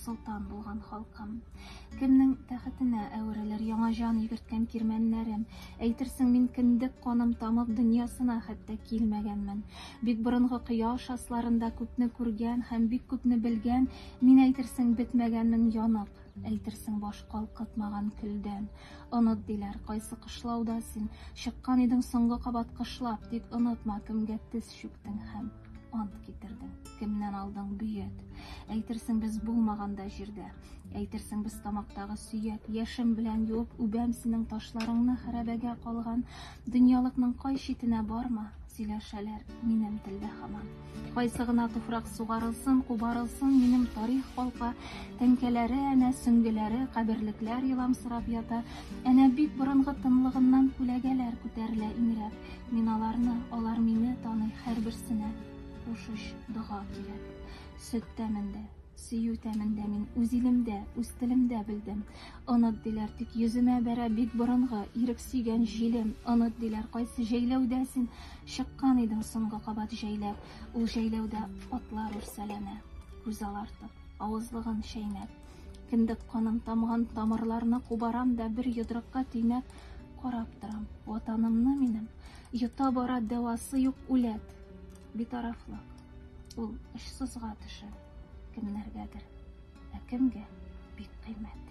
Солтан булган халкым. Кемнең тәхетенә әверелер яңа җан йөгерткән кирмәннәрем? Әйтерсең, мин кендек каным тамып дөньясына хәтта килмәгәнмен. Бик борынгы кояш асларында күпне күргән һәм бик күпне белгән, мин әйтерсең бетмәгәнмен янып, әйтерсең баш калкытмаган көлдән. Оныт диләр, кайсы кышлауда син чыккан идең соңгы кабат кышлап, тик онытма кемгә тез чүктең һәм ант китердең кемнән алдың бөят әйтерсең без булмаганда җирдә әйтерсең без тамактагы сөяк яшем белән юып үбәм синең ташларыңны хәрәбәгә калган дөньялыкның кай читенә барма сөйләшәләр минем телдә хаман кайсы гына туфрак сугарылсын кубарылсын минем тарих калка тәңкәләре әнә сөңгеләре каберлекләр еламсырап ята әнә бик борынгы тынлыгыннан күләгәләр күтәрелә иңрәп Мин аларны, алар мине таный Һәрберсенә кушыч дога кирәк Сөт тәмендә, сөю тәмендә Мин үз илемдә, үз телемдә белдем Оныт диләр, тик йөземә бәрә Бик борынгы, ирек сөйгән җилем Оныт диләр, кайсы җәйләүдә син Чыккан идең соңгы кабат җәйләп Ул җәйләүдә атлар үрсәләнә Күз алартып, авызлыгын чәйнәп Кендек каным тамган тамырларны Кубарам да бер йодрыкка төйнәп Карап торам, ватанымны минем, йота бара дәвасы юк үләт. Битарафлык. Ул очсызга төшә кемнәргәдер, ә кемгә бик кыйммәт.